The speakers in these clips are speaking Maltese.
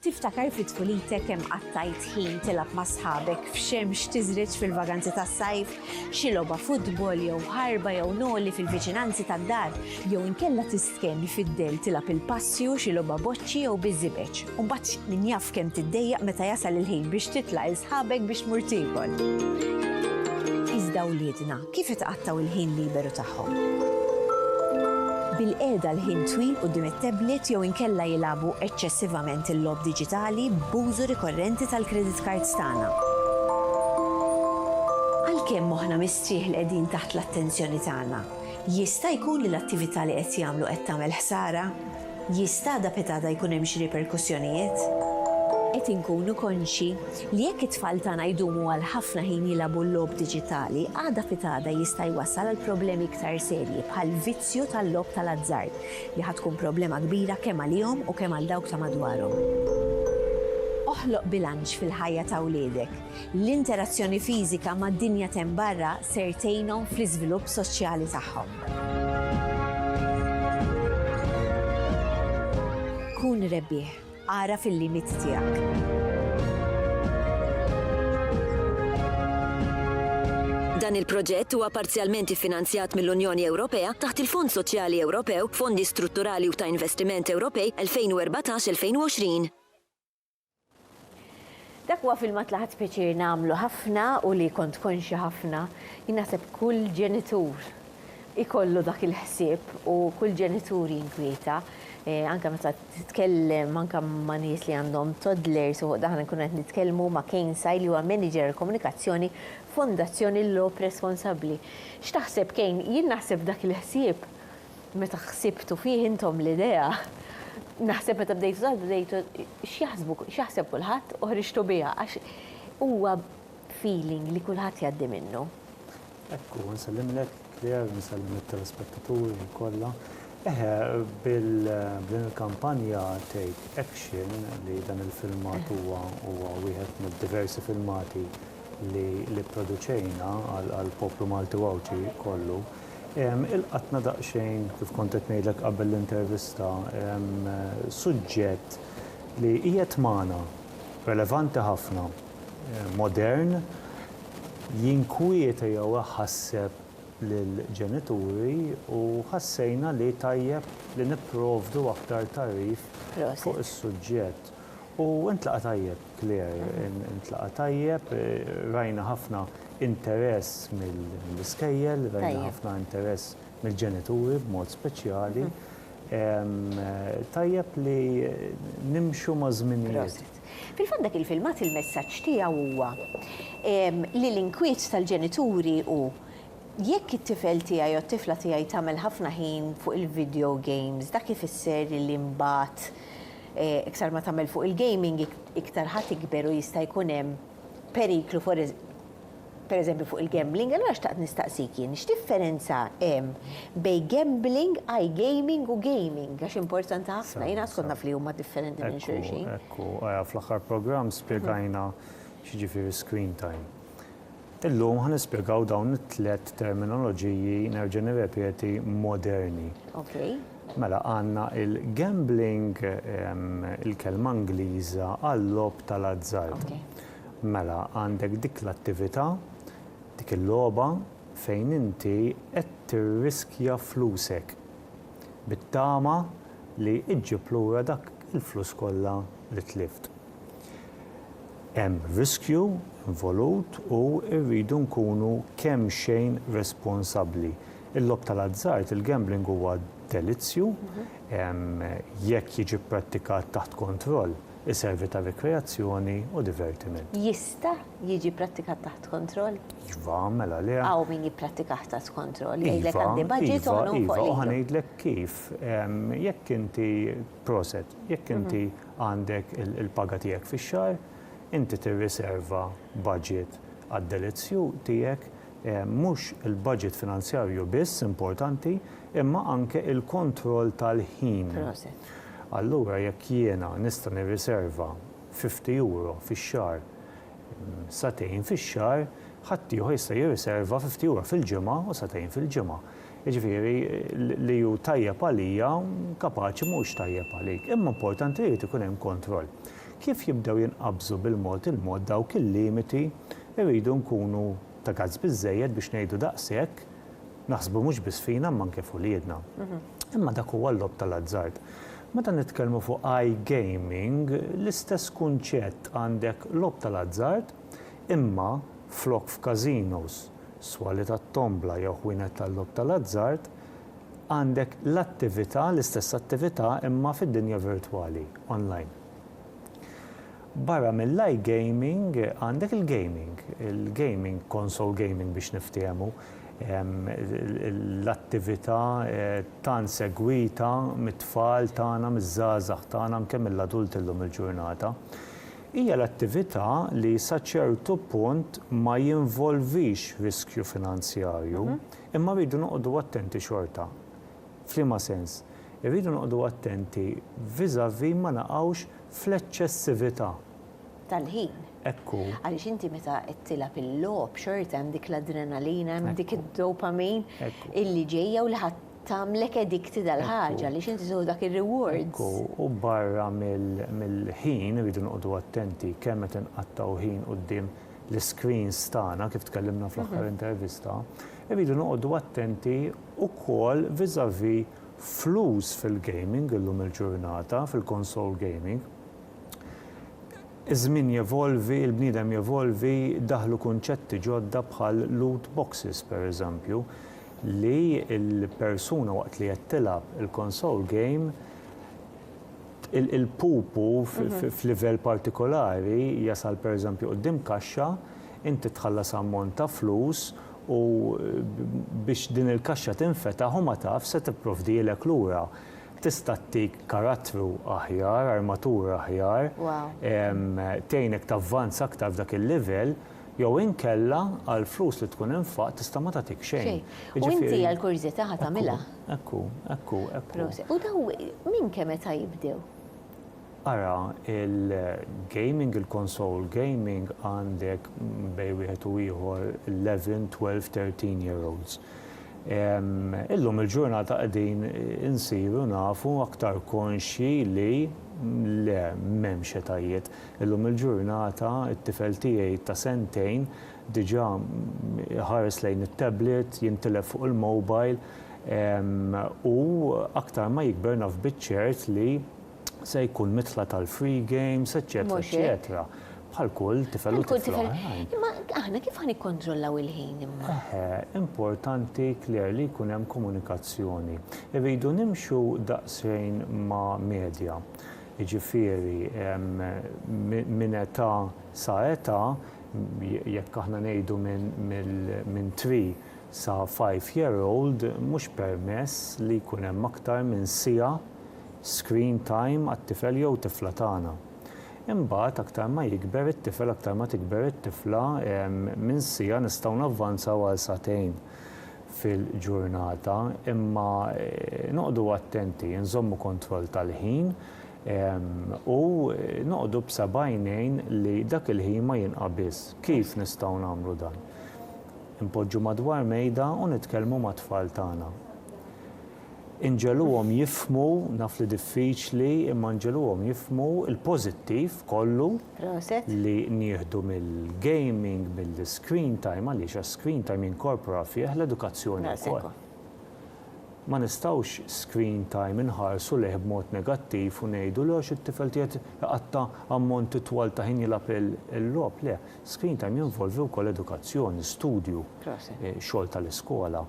Tiftakar fi tfulitek kemm qattajt ħin tilgħab ma' sħabek f'xemx tiżreġ fil-vaganzi tas-sajf? Xi logħba futbol jew ħarba jew noli fil-viċinanzi tad-dar? Jew inkella tistkenn fid-dell tilgħab il-passju, xi logħba boċċi jew biż-żibeġ? U mbagħad min jaf kemm tiddejjaq meta jasal il-ħin biex titla' 'l sħabek biex tmur tiekol? Iżda wliedna, Kif itqattgħu l-ħin liberu tagħhom? Bil-qiegħda għal ħin twil quddiem it-tablet jew inkella jilagħbu eċċessivament il-logħob diġitali b'użu rikorrenti tal-credit cards tagħna. Għalkemm moħħna mistrieħ li qegħdin taħt l-attenzjoni tagħna, jista' jkun li l-attività li qed jagħmlu qed tagħmel ħsara? Jista' da pitada jkun hemm xi riperkussjonijiet? Qed inkunu konxji li jekk it-tfal tagħna jdumu għal ħafna ħin jilagħbu l-logħob diġitali, għada pitada jista' jwassal għal problemi iktar serji bħall-vizzju tal-logħob tal-azzard li ħa tkun problema kbira kemm għalihom u kemm għal dawk ta' madwarhom. Oħloq bilanċ fil-ħajja ta' wliedek. L-interazzjoni fiżika mad-dinja t'hemm barra ser tgħinhom fl-iżvilupp soċjali tagħhom. Kun rebbieħ, agħraf il-limiti tiegħek. Dan il-proġett huwa parzjalment iffinanzjat mill-Unjoni Ewropea taħt il-Fond Soċjali Ewropew, Fondi Strutturali u ta' Investiment Ewropej 2014-2020. Dak huwa filmat li ħadt pjaċir nagħmlu ħafna u li kont konxja ħafna. Jien naħseb kull ġenitur ikollu dak il-ħsieb u kull ġenitur jinkwieta anke meta titkellem anke ma' nies li għandhom toddlers u daħna nkunu qed nitkellmu ma' Kane Sai li huwa Manager għall-Komunikazzjoni f'Fondazzjoni Loeb responsabbli. X'taħseb Kane? Jien naħseb dak il-ħsieb Meta ħsibtu fih intom l-idea, naħseb meta bdejtu taħdmu bdejtu x'jaħsbu, x'jaħseb kulħadd u ħriġtu biha għax huwa feeling li kulħadd jgħaddi minnu. Ekku, nsellimlek Claire, nsellem lit-telespettaturi kollha. Eħe, b'din il-kampanja Take Action li dan il-filmat huwa wieħed mid-diversi filmati li pproduċejna għall-poplu Malti u Għawdxi kollu, Ilqatna daqsxejn, kif kont qed ngħidlek qabel l-intervista, suġġett li qiegħed magħna, relevanti ħafna, modern, jinkwieta jew iħasseb lill-ġenituri u ħassejna li tajjeb li nipprovdu aktar tagħrif fuq is-suġġett. U ntlaqa' tajjeb. Claire, Intlaqa' tajjeb, rajna ħafna interess mill-iskejjel, rajna ħafna interess mill-ġenituri b'mod speċjali. Tajjeb li nimxu maż-żminijiet. Fil-fatt dak il-filmat il-messaġġ tiegħu huwa li l-inkwiet tal-ġenituri hu jekk it-tifel tiegħi jew t-tifla tiegħi tagħmel ħafna ħin fuq il-video games dak ifisser li mbagħad Iktar ma tagħmel fuq il-gaming, iktar ħa tikber u jista' jkun hemm periklu pereżempju fuq il-gambling. Allura xtaqt nistaqsik jien, x'differenza hemm bejn gambling, iGaming u gaming? Għax importanti ħafna, jien għadkont naf li huma differenti minn xulxin. Ekku, ekku. Fl-aħħar programm spjegajna x'jiġifieri screen time. Illum ħa nispjegaw dawn it-tliet terminoloġiji, nerġa' nirrepeti, moderni. Okay. Mela għandna il-gambling, il-kelma Ingliża għal-lob tal-azzard. Okay. Mela għandek dik l-attività, dik il-logħba fejn inti qed tirriskja flusek bit-tama li iġġib lura dak il-flus kollha li tlift. Hemm riskju involut u rridu nkunu kemxejn responsabbli. Il-logħob tal-azzard, il-gambling huwa delizzju, jekk jiġi pprattikat taħt kontroll, iservi ta' rikreazzjoni u divertiment. Jista' jiġi pprattikat taħt kontroll? Iva, mela le. Hawn min jipprattikah taht kontroll, jgħidlek għandi budget u ħa ngħum fuq l-ijdu. Iva, iva, ħa ngħidlek kif. Jekk inti, proset, jekk inti Għandek il-paga tiegħek fix-xahar, inti tirriserva baġit għad-delizzju tiegħek, mhux il-baġit finanzjarju biss importanti, imma anke il-kontroll tal-ħin. Allura jekk jiena nista' nirriserva fifti euro fix-xahar, sagħtejn fix-xahar, ħaddieħor jista' jirriserva fifti euro fil-ġimgħa u sagħtejn fil-ġimgħa. Jiġifieri, li hu tajjeb għalija, kapaċi mhux tajjeb għalik. Imma importanti li jrid ikun hemm kontroll. Kif jibdew jinqabżu bil-mod il-mod dawk il-limiti, irridu nkunu ta' gazz biżżejjed biex ngħidu daqshekk, naħsbu mhux biss fina imma anke f'uliedna. Imma dak huwa l-logħob tal-azzard. Meta nitkellmu fuq iGaming, l-istess kunċett, għandek logħob tal-azzard, imma flok f'casinos, swali tat-tombla jew ħwienet tal-logħob tal-azzard, għandek l-attività, l-istess attività imma fid-dinja virtwali, online. Barra mill-iGaming għandek il-gaming, il-gaming, console gaming biex niftiehmu, l-attività tant segwita mit-tfal tagħna, miż-żgħażagħ tagħna, anke mill-adulti llum il-ġurnata. Hija l-attività li sa ċertu punt ma jinvolvix riskju finanzjarju, imma rridu noqogħdu attenti xorta. F'liema sens? Irridu noqogħdu attenti vis-à-vis ma naqgħux fl-eċċessività. Tal-ħin. Hekk hu. Għaliex inti meta qed tilgħab il-logħob xorta hemm dik l-adrenalina, hemm dik id-dopamine illi ġejja u li ħa Tagħmlek addicted għall-ħaġa għaliex inti tieħu dak ir-rewards. Ekku, u barra mill-ħin irridu noqogħdu attenti kemm qed inqattgħu ħin quddiem l-iscreens tagħna kif tkellimna fl-aħħar intervista, irridu noqogħdu attenti wkoll vis-à-vis flus fil-gaming illum il-ġurnata, fil-console gaming. Iż-żmien jevolvi, il-bniedem jevolvi, daħlu kunċetti ġodda bħal loot boxes pereżempju, li l-persuna waqt li qed tilgħab il-console game, il-pupu f'livell partikolari jasal pereżempju quddiem kaxxa, inti tħallas ammont ta' flus u biex din il-kaxxa tinfetaħ u ma tafx se tipprovdilek lura. tista' ttik karattru aħjar, armatura aħjar, tgħinek tavvanza aktar f'dak il-livell, jew inkella għall-flus li tkun infaqt tista' ma tagħtik xejn. U inti għall-kurjżità ħa tagħmilha. Ekku, ekku, ekku. U dawn minn kemm età jibdew? Ara il-gaming, il-console gaming għandek bejn wieħed u ieħor eleven, twelve, thirteen year olds. Illum il-ġurnata qegħdin insiru nafu aktar konxji li le, m'hemmx etajiet. Illum il-ġurnata t-tifel tiegħi ta' sentejn diġà iħares lejn it-tablet, jintilef fuq il-mobile u aktar ma jikber naf biċ-ċert li se jkun midħla tal-free games, eċċetera, eċċetera, bħal kull tifel u tifla oħrajn. Imma aħna kif ħa nikkontrollaw il-ħin imma? Eħe, importanti Claire li jkun hemm komunikazzjoni. Irridu nimxu daqsxejn ma' medja. Jiġifieri minn età sa età jekk aħna ngħidu minn three sa five year old mhux permess li jkun hemm aktar minn siegħa screen time għat-tifel jew tifla tagħna. Imbagħad aktar ma jikber it-tifel aktar ma tikber it-tifla minn siegħa nistgħu navvanzaw għal sagħtejn fil-ġurnata imma noqogħdu attenti nżommu kontroll tal-ħin U noqogħdu b'sebgħajnejn li dak il-ħin ma jinqabiż. Kif nistgħu nagħmlu dan? Inpoġġu madwar mejda u nitkellmu mat-tfal tagħna. Inġegħluhom jifhmu, naf li diffiċli, imma nġegħluhom jifhmu l-pożittiv kollu li nieħdu mill-gaming, mill-iscreen time, għaliex għas-screen time jinkorpora fih l-edukazzjoni wkoll. Ma nistgħux screen time inħarsu lejh b'mod negattiv u ngħidu, le għax it-tifel qiegħed iqatta' ammonti twal ta' ħin jilgħab il-logħob. Le, screen time jinvolvi wkoll edukazzjoni, studju, xogħol tal-iskola.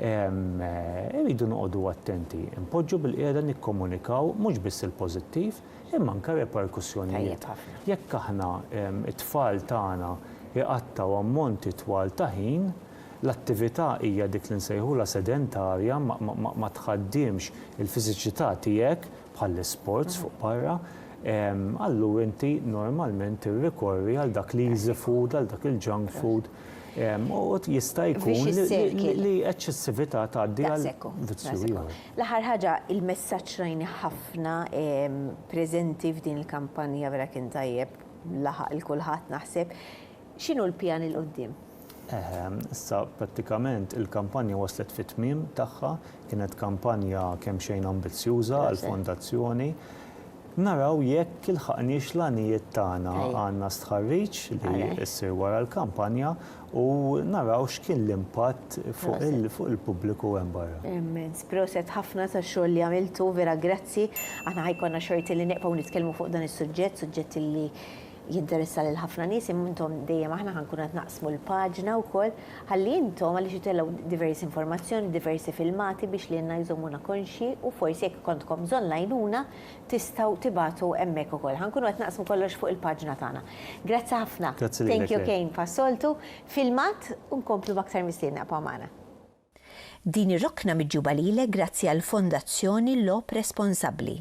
Irridu noqogħdu attenti npoġġu bil-qiegħda nikkomunikaw mhux biss il-pożittiv imma anke r-reperkussjonijiet. Jekk aħna t-tfal tagħna jqattgħu ammonti twal ta' ħin, L-attività hija dik li nsejħulha sedentarja, ma tħaddimx il-fiżiċità tiegħek, bħall-isports fuq barra, allura inti normalment tirrikorri għal dak l-easy food, għal dak il-junk food, u jista' jkun li eċċessività tgħaddi għal vizzju ieħor. L-aħħar ħaġa, il-messaġġ rajnih ħafna preżenti f'din il-kampanja vera kien tajjeb, laħaq 'il kulħadd naħseb, X'inhu l-pjan 'il quddiem? Eħe, issa prattikament il-kampanja waslet fit-tmiem tagħha, kienet kampanja kemmxejn ambizzjuża għall-Fondazzjoni. Naraw jekk ilħaqniex l-għanijiet tagħna. Għandna stħarriġ li ssir wara l-kampanja u naraw x'kien l-impatt fuq il-pubbliku hemm barra. Immens, proset ħafna tax-xogħol li għamiltu, vera grazzi. Aħna ħa jkollna xorti li neqfgħu nitkellmu fuq dan is-suġġett, suġġett li jinteressa lil ħafna nies imma intom dejjem aħna ħa nkunu qed naqsmu l-paġna wkoll ħalli intom għaliex itellgħu diversi informazzjoni, diversi filmati biex lilna jżommuna konxji u forsi jekk ikontkom bżonn l-għajnuna tistgħu tibagħtu hemmhekk ukoll. Ħa nkunu qed naqsmu kollox fuq il-paġna tagħna. Grazzi ħafna. Grazzi lilek. Thank you Kane pas-soltu. Filmat u nkomplu b'aktar mistiedna ibqgħu magħna. Din ir-rokna miġjuba lilek grazzi għall-Fondazzjoni Logħob Responsabbli.